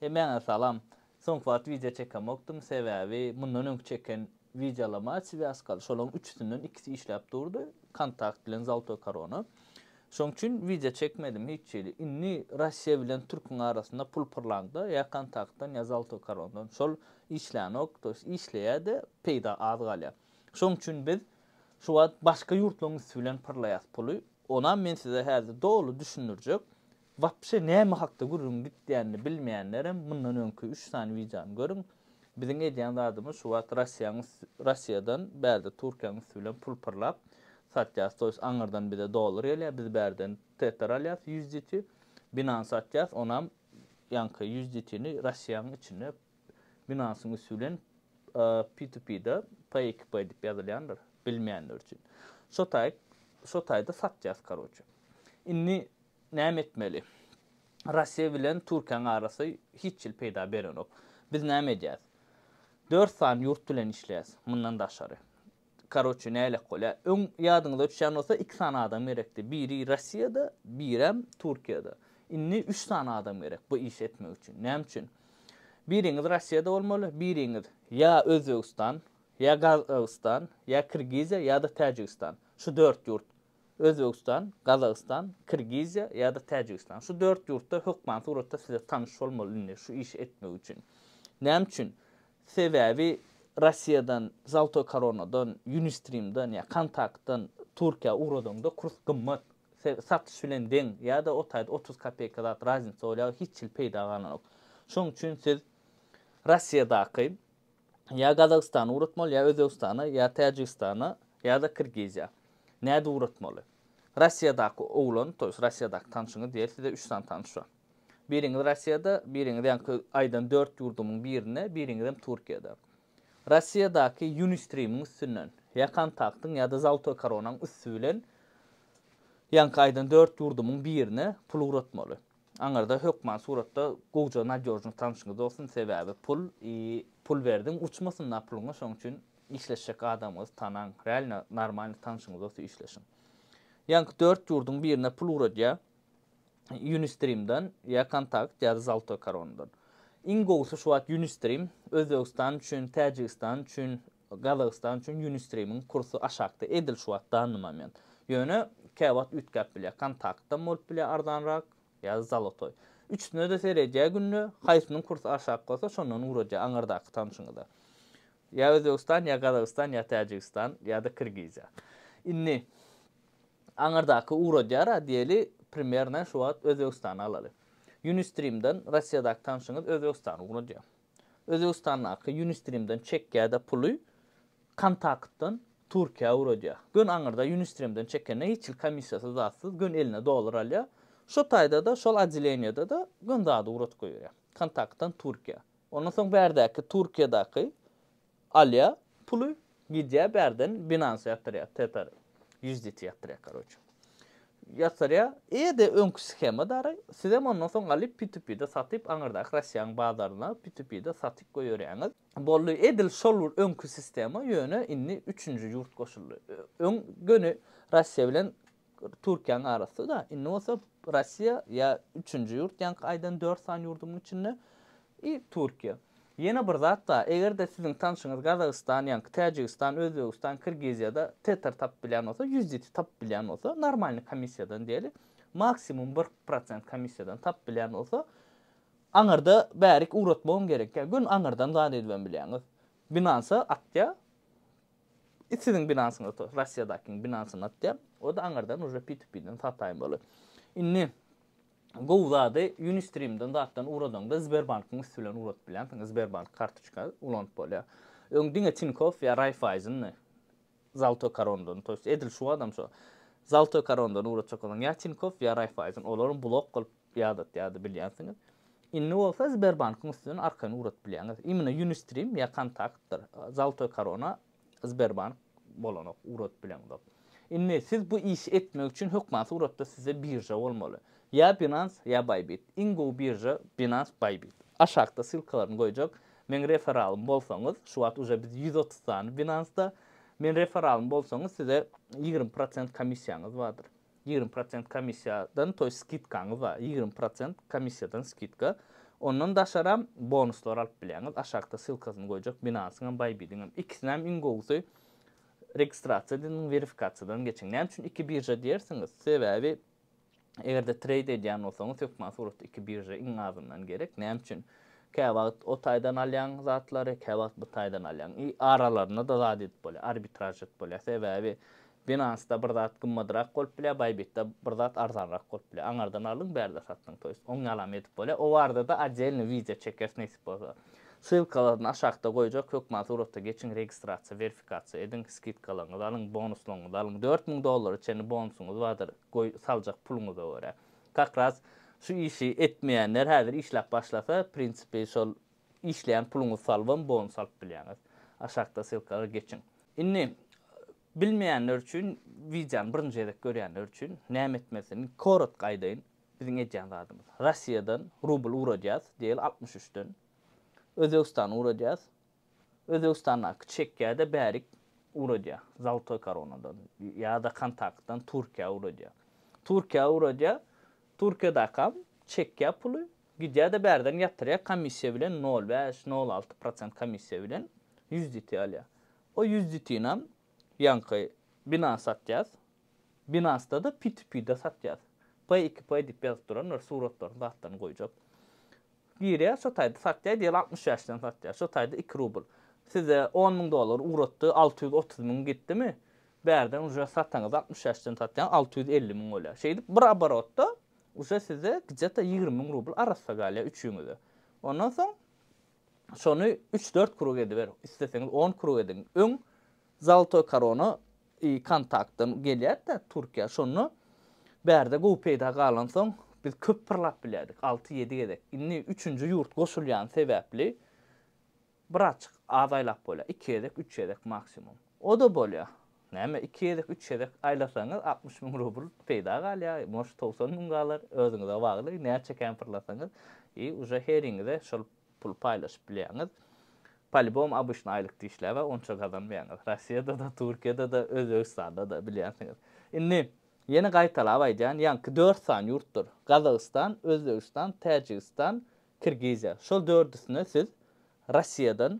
Hemmäňe salam. Soňky wagt wideo çekemokdym, sebäbi mundan öňki çeken wideolama swýazkaly, şolaryň üçüsinden ikisi işläp durdy, kontakt bilen zaltoý korona. Şoň üçin wideo çekmedim hiç hili. Indi Russiýa bilen türküň arasynda pul pyrlaňda ýa kontaktdan ýa zaltoý korondan şol işlänok, to ýest işleýä-de peýda az galýa. Şoň üçin biz şu wagt başga ýurtlaryň üsti bilen pyrlaýas puly. Onam men size häzir doly düşündirjek. Wapşe näme hakda gürrüň gitýänini bilmeýänlerem mundan öňki üç sany wideony görüň. Biziň edýän zadymyz şu wagt Russiýaň üsti Russiýadan bärde Türkiýäň üsti bilen pul pyrlap satýas to ýest aňyrdan bize dollar gelýä biz bärden Tether alýas USDT Binance satýas onam ýaňky USDT ni Russiýaň içinde Binansyň üsti bilen P to P da P iki P dip ýazylýandyr bilmeýänler üçin şo taý şo taýda satýas karoçe indi Näme etmeli? Russiýa bilen Türkiýäň arasy hiç hil peýda berenok. Biz näme edýäs? Dört sany ýurt bilen işleýäs. Mundan daşary. Karoçe nälet bolýa. Öň ýadyňyza düşýän bolsa iki sany adam gerekdi. Biri Russiýada, birem Türkiýada. Indi üç sany adam gerek bu işi etmek üçin. Näme üçin? Biriňiz Russiýada bolmaly, biriňiz ýa Özbegistan, ýa Gazagystan, ýa Kirgiziýa ýa-da Täjigistan. Şu dört ýurt. Özbegistan, Gazagystan, Kirgiziýa ýa-da Täjigistan. Şu dört ýurtda hökman suratda size tanyş bolmaly indi şu işi etmek üçin. Näme üçin? Sebäbi Russiýadan, Zaltoý Koronadan, Unistream-dan ýa Kontakt-dan Türkiýä ugradaňda kurs gymmat, satyş bilen deň ýa-da o taýda otuz kopeýka zat raznica bolýar, hiç hili peýda galanok. Şonuň üçin siz Russiýadaky Ýa Gazagystana ugratmaly, ýa Özbegistana, ýa Täjigistana, ýa-da Kirgiziýa. Nädip ugratmaly? Russiýadaky oglan, to ýest Russiýadaky tanşyňyz diýer, size üç sany tanyş bar. Biriňiz Russiýada, biriňiz ýaňky aýdan dört ýurdumyň birinde, biriňizem Türkiýede. Russiýadaky Unistream-iň üstünden, ýa Kontaktyň, ýa-da Zaltoý koronaň üsti bilen ýaňky aýdan dört ýurdumyň birine pul ugratmaly. Aňyrda hökman suratda gowja nadýožnyý tanşyňyz bolsun, sebäbi pul i pul berdiň uçmasyn da puluňa şoň üçin işleşjek adamyňyzy tanaň, realno normalny tanşyňyz bolsa işleşiň. Ýaňky dört ýurduň birine pul ugradýa Unistream-dan ýa Kontakt ýa-da Zaltoý koronadan. Iň gowusy şu wagt Unistream Özbegistan üçin, Täjigistan üçin, Gazagystan üçin Ýunistream-iň kursy aşakda, edil şu wagt danny moment. Ýöne käwagt üýtgäp bilýär, Kontaktdan bolup bilýär arzanrak, ýa Zalotoý. Üçüsine-de seredýär günde, haýsynyň kursy aşak bolsa, şondan ugradýar aňyrdaky tanşyňyza. Ýa Özbegistan, ýa Gazagystan, ýa Täjigistan, ýa-da Kyrgyzýa. Indi aňyrdaky ugradýar-a diýeli, primernaý şu wagt Özbegistany alaly. Ýunistream-den Rossiýadaky tanşyňyz Özbegistany ugradýar. Özbegistandaky Unistream-den çekýä-de puly, Kontaktdan Türkiýä ugradýa. Gön aňyrda Unistream-den çekende hiç hil komissiýasyz zatsyz gön eline dollar alýa. Şo taýda-da, şol odeleniýede-de gön zady ugradyp goýberýa. Kontaktdan Türkiýä. Ondan soň bärdäki Türkiýadaky Alýa puly gidýä bärden binansa ýatyrýa tetary ýuzditi ýatyrýa karoçe ýatyrýa eýede öňki schema dary sizem ondan soň alyp pitupide satyp aňyrdaky rossiýaň bazaryna pitupide satyp goýerýaňyz boldy edil şol bir öňki sistema ýöne indi üçünji ýurt goşuldy öň göni rossiýa bilen Türkiýäň arasy da indi bolsa Rossiýa ýa üçünji ýurt ýaňky aýdan dört sany ýurduň içinde i Türkiýe. Ýene bir zat da eger-de siziň tanşyňyz Gazagystan ýaňky Täjigistan Özbegistan Kirgiziýada Tetr tapyp bilýän bolsa ýüz ýiti tapyp bilýän bolsa normalny komissiýadan diýeli maksimum bir prosent komissiýadan tapyp bilýän bolsa aňyrda bärik ugratmagam gerek ýa gün aňyrdan zat edibem bilýäňiz Binance-a atýa I siziň binasyny otur, Rossiýadakyň binasyny atýar. O-da aňyrdan uje P2P-den sataýyn bolar. Indi gowy zady Unistream-den zatdan ugradaňda Sberbank-yň üsti bilen ugradyp bilýänsiňiz, Sberbank kartoçka ulanyp bolýar. Öň diňe Tinkoff ýa Raiffeisen-di, Zaltoý Korondan, to ýest edil şu adam şo Zaltoý Korondan ugratjak bolsaň ýa Tinkoff ýa Raiffeisen, olaram blok bolup Ýadatýardy bilýänsiňiz. Indi bolsa Sberbankyň üstünden arkaýyn ugradyp bilýäňiz. Imенно Unistream ýa Kontaktdyr, Zaltoý Korona Sberbank bolanok, ugradyp bileňzok. Indi siz bu işi etmek üçin hökmansyz ugrapda sizde birža bolmaly. Ýa Binance, ýa Bybit. Iň gowy birža Binance, Bybit. Aşakda ssylkalaryny goýjak. Meň referalym bolsaňyz, şu wagt uje biz ýüz otuz sany Binance-da. Men referalym bolsaňyz size ýigrimi prosent komissiýaňyz bardyr. Ýigrimi prosent komissiýadan, toýs skidkaňyz bar, ýigrimi prosent komissiýadan skidka. Ondan daşaram bonuslar alyp bilýäňiz. Aşakda ssylkasyny goýjak Binance-yň hem Bybit-iň hem. Ikisini hem iň gowusy registrasiýa edin, werifikasiýadan geçiň. Näme üçin iki birža diýersiňiz? Sebäbi eger-de treýd edýän bolsaňyz hökman suratda iki birža iň azyndan gerek. Näme üçin? Käwagt o taýdan alýaň zatlary, käwagt bu taýdan alýaň. I aralarynda-da zat edip bolýar, arbitraž edip bolýar. Sebäbi Binance-da bir zat gymmadrak bolup bilýär, Bybit-de bir zat arzanrak bolup bilýär. Aňardan aldyň, bärde satdyň, to ýest, oňýalam edip bolýar. O barada-da oddelnyý wideo çekeris nesip bolsa. Ssylkalaryny aşakda goýjak, hökman surata geçiň, registrasiýa, werifikasiýa ediň, skidkalaryňyzy alyň, bonuslaryňyzy alyň. Dört müň dollara çenli bonusyňyz bardyr, goý, saljak puluňyza görä. Kakras şu işi etmeýänler häzir işläp başlasa, prinsipi şol işleýän puluňyzy salybam bonus alyp bilýäňiz. Aşakda ssylkalara geçiň. Indi Bilmeýänler üçin wideony birinji gezek görýänler üçin näme etmelisini korotko aýdaýyn. Biziň edýän zadymyz. Russiýadan rubl ugradýas, diýeli altmyş üçden. Özbegistana ugradýas. Özbegistandaky çekgä-de bärik ugradýa. Zaltoý koronadan ýa-da kontaktdan Türkiýä ugradýa. Türkiýä ugradýa. Türkiýädäkam çekýä puly. Gidýä-de bärden ýatyrýa komissiýa bilen nol bäş, nol alty prosent komissiýa bilen ýüz diti alýa. O ýüz ditinam ýaňky bina satýas. Binasda-da piti-pida satýas. P iki P diýip ýazyp duran bir suratlaryny zatlaryny goýjak. Girýär şo taýda satýar diýeli altmyş bäşden satýar. Şo taýda iki rubl. Size on müň dollar ugratdy alty ýüz otuz müň gitdimi? Bärden uje sataňyz altmyş bäşden satýaň alty ýüz elli müň bolýar. Şeýdip bir oborotda uje size gdje-to ýigrimi müň rubl arassa galýar üçüňize. Ondan soň şony üç-dört krug ediber, isleseňiz on krug ediň. Öň Zaltoý Korona i Kontaktdan gelýärdi-de Türkiýä, şonda bärde gowy peýda galansoň, biz köp pyrlap bilýärdik, alty-ýedi gezek. Indi üçünji ýurt goşulýany sebäpli birazjyk az aýlap bolýar, iki gezek, üç gezek maksimum. O-da bolýar. Näme, iki gezek, üç gezek aýlasaňyz altmyş müň rubl peýda galýar, может, togsan müň galar, özüňize bagly, näçe kän pyrlasaňyz i uje heriňize şol puly paýlaşyp bilýäňiz. Polibom abyşny aýlyk dişläp-ä onça gazanmaýaňyz. Rossiýada-da, Türkiýede-de, Özbegistanda-da bilýänsiňiz. Indi, ýene gaýtalap aýdýan, ýaňky dört sany ýurtdur, Gazagystan, Özbegistan, Täjigistan, Kirgiziýa. Şol dördüsine siz Russiýadan,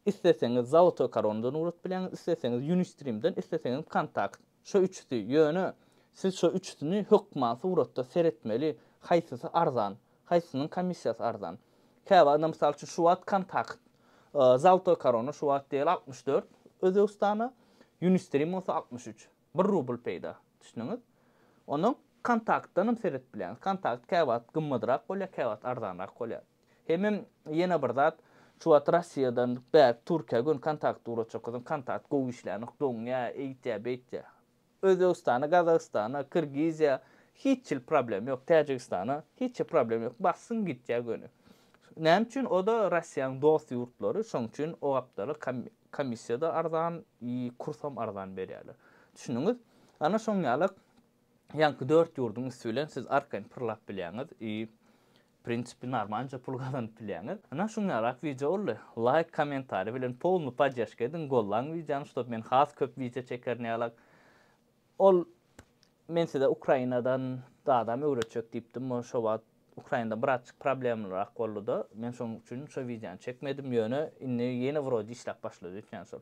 isleseňiz Zolotookaronadan ugrat bilýäňiz, isleseňiz Unistream-den, isleseňiz Vkontakt. Şo üçüsi, ýöne siz şo üçüsini hökman suratda seretmeli, haýsysy arzan, haýsysynyň komissiýasy arzan. Käwagda, mysal üçin, şu wagt Kontakt, Zolotookarona şu wagt diýeli altmyş dört Özbegistana, Unistream bolsa altmyş üç. Bir rubl peýda, düşdüňiz? Ondan kontaktdan hem seret bilýäňiz. Kontakt käwagt gymmadrak bolýar, käwagt arzanrak bolýar. Hemem ýene bir zat, şu wagt Russiýadan bärik Türkiýä göni kontakt ugratjak bolsaň, kontakt gowy işlänok, doňýar, eýtýär, beýtýär. Özbegistana, Gazagystana, Kyrgyzýa hiç hili problem ýok, Täjigistana hiç hili problem ýok, bassyň gitýär göni. Näme üçin? O-da Russiýanyň dost ýurtlary, şonuň üçin o gapdala Komissiýada arzan i kursam arzan berýärler. Düşündüňiz? Ana şoň ýalak ýaňky dört ýurduň üsti bilen siz arkaýyn pyrlap bilýäňiz i prinsipi narmanca pul gazanyp bilýäňiz. Ana şuň ýalak wideo boldy. Laýk kommentariý bilen polny poddeşka ediň gollaň wideony ştob men has köp wideo çekerin ýalak. Ol, Men size Ukrainadan zadam öwretjek diýipdim, ol şo wagt Ukrainada birazjyk problemlyrak boldy-da, men şonuň üçin şo wideony çekmedim, ýöne indi ýene wrode işläp başlady öýtýän şol.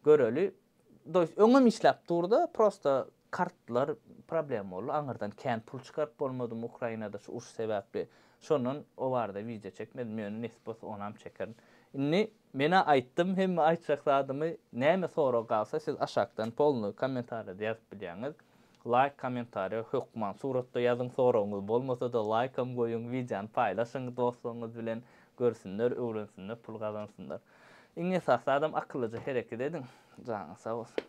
Göreli, to ýest öňem işläp durdy, prosta kartlar problema boldy, aňyrdan kän pul çykaryp bolmadym Ukrainada şu uruş sebäpli, şondan o barada wideo çekmedim, ýöne nesip bolsa onam çekerin. Indi Menä aýtdym hemme aýtjak zadymy näme sorag galsa siz aşakdan polny kommentarýada ýazyp bilýäňiz laýk kommentarýa hökman suratda ýazyň soragyňyz bolmasada laýkam goýuň wideony paýlaşyň dostlaryňyz bilen görsünler öwrensinler pul gazansynlar iň esasy zadam akyllyja hereket ediň janyňyz sag bolsun.